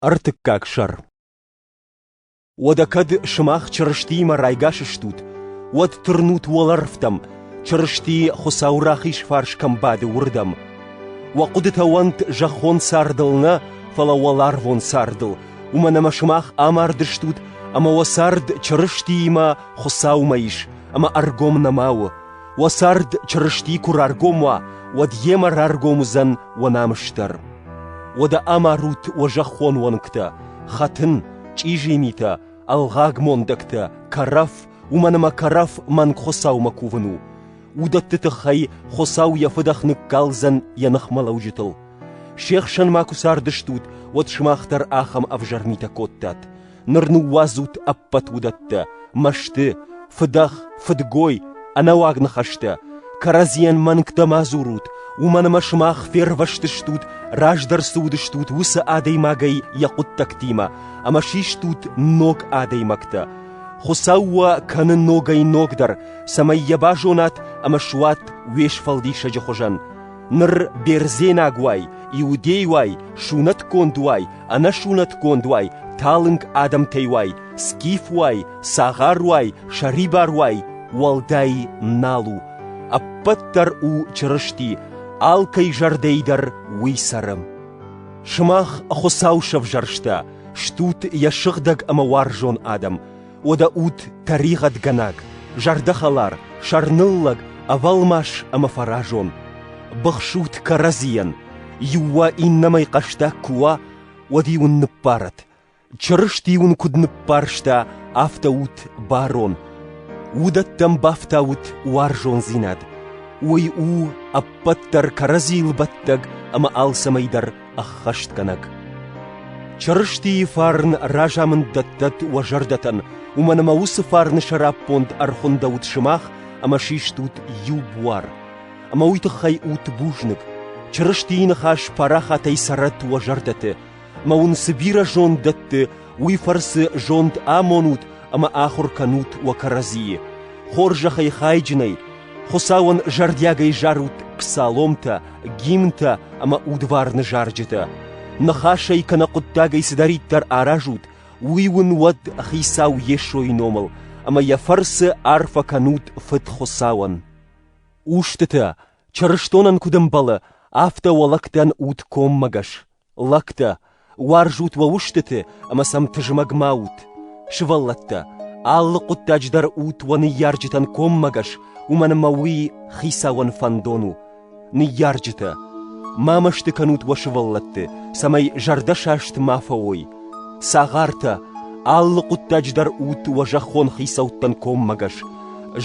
Ӕртыккаг сӕр Уӕдӕ кӕд сымах Чырыстиимӕ райгас стут, уӕд тырнут уӕлӕрвтӕм, Чырысти Хуыцау рахиз фарс кӕм бады, уырдӕм. Уӕ хъуыдытӕ уӕнт зӕххон цардыл нӕ, фӕлӕ уӕларвон цардыл, уымӕн ӕмӕ сымах амард стут, ӕмӕ уӕ цард Чырыстиимӕ, Хуыцаумӕ ис, ӕмӕ ӕргом нӕма у. Уӕ цард Чырысти куы раргом уа, уӕд йемӕ раргом уыдзӕн уӕ намыс дӕр. Уӕдӕ амарут уӕ зӕххон уӕнгтӕ, хӕтын, чъизийы митӕ, ӕлгъаг мондӕгтӕ, кӕрӕф, уымӕн ӕмӕ кӕрӕф мӕнг Хуыцаумӕ кувын у. Уыдӕтты тыххӕй Хуыцау йӕ Фыдӕх ныккалдзӕн йӕ ныхмӕлӕуджытыл. Се хсӕн ма куы цардыстут, уӕд сымах дӕр ахӕм ӕвзӕр митӕ кодтат. ныр ныууадзут ӕппӕт уыдӕттӕ, мӕсты, фыдӕх, фыдгой, ӕнӕуаг ныхӕстӕ, кӕрӕдзийӕн мӕнгтӕ ма дзурут, уымӕн ӕмӕ сымах фервӕзтыстут, раздӕр цы уыдыстут, уыцы адӕймагӕй йӕ хъуыддӕгтимӕ, ӕмӕ систут ног адӕймӕгтӕ. Хуыцау уӕ кӕны ногӕй-ногдӕр, цӕмӕй йӕ базонат ӕмӕ суат уе сфӕлдисӕджы хуызӕн. Ныр бердзенаг уай, иудей уай, сунӕтгонд уай, ӕнӕсунӕтгонд уай, талынг адӕмтӕй уай, скиф уай, цагъар уай, сӕрибар уай, уӕлдай нал у. Ӕппӕт дӕр у Чырысти, алкӕй зӕрдӕй дӕр уый цӕры. Сымах Хуыцау сӕвзӕрста, стут йӕ сыгъдӕг ӕмӕ уарзон адӕм. уӕдӕ ут тӕригъӕдгӕнаг, зӕрдӕхӕлар, сӕрныллӕг, ӕвӕлмас ӕмӕ фӕразон. Быхсут кӕрӕдзийӕн, иу уа иннӕмӕй хъӕстаг куы уа, уӕд-иу ын ныббарӕт. Чырысти уын куыд ныббарста, афтӕ ут барон. Уыдӕттӕм бафтаут уарзондзинад. Уый у ӕппӕт дӕр кӕрӕдзийыл бӕттӕг ӕмӕ алцӕмӕй дӕр ӕххӕстгӕнӕг. Чырыстийы фарн разамынд дӕттӕт уӕ зӕрдӕтӕн, уымӕн ӕмӕ уыцы фарны сӕраппонд ӕрхуындӕут сымах ӕмӕ систут иу буар. Ӕмӕ уый тыххӕй ут бузныг. Чырыстийы ныхас парахатӕй цӕрӕт уӕ зӕрдӕты, ӕмӕ уын цы бирӕ зонд дӕтты, уый фӕрцы зонд амонут ӕмӕ ахуыр кӕнут уӕ кӕрӕдзийы. Хорзӕхӕй хайджынӕй, Хуыцауӕн зӕрдиагӕй зарут псаломтӕ, гимнтӕ ӕмӕ удварны зарджытӕ. Ныхасӕй кӕнӕ хъуыддагӕй цыдӕриддӕр аразут, уый уын уӕд Хицау Йесойы номыл, ӕмӕ йӕ фӕрцы арфӕ кӕнут Фыд Хуыцауӕн. Устытӕ, чырыстонӕн куыд ӕмбӕлы, афтӕ уӕлӕгтӕн ут коммӕгӕс. Лӕгтӕ, уарзут уӕ устыты ӕмӕ сӕм тызмӕг ма ут! Сывӕллӕттӕ, алы хъуыддаджы дӕр ут уӕ ныййарджытӕн коммӕгӕс, уымӕн ӕмӕ уый Хицауӕн фӕндон у. Ныййарджытӕ, ма мӕсты кӕнут уӕ сывӕллӕтты, цӕмӕй зӕрдӕсаст ма фӕуой. Цагъартӕ, алы хъуыддаджы дӕр ут уӕ зӕххон хицӕуттӕн коммӕгӕс.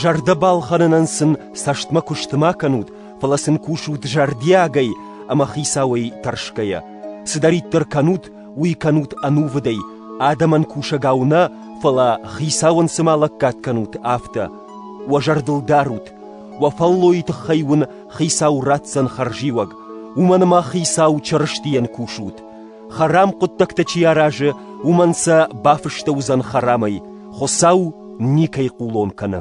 Зӕрдӕ балхӕнынӕн сын цӕстмӕ куысты ма кӕнут фӕлӕ сын кусут зӕрдиагӕй ӕмӕ хицауӕй тӕрсгӕйӕ. Цыдӕриддӕр кӕнут, уый кӕнут ӕнувыдӕй, адӕмӕн кусӕгау нӕ, фӕлӕ хицауӕн цыма лӕггад кӕнут, афтӕ. Уӕ зӕрдыл дарут, уӕ фӕллойы тыххӕй уын хицау ратдзӕн хӕрзиуӕг, уымӕн ӕмӕ хицау Чырыстийӕн кусут. Хӕрам хъуыддӕгтӕ чи аразы, уымӕн сӕ бафыстӕ уыдзӕн хӕрамӕй, Хуыцау никӕй хъулон кӕны.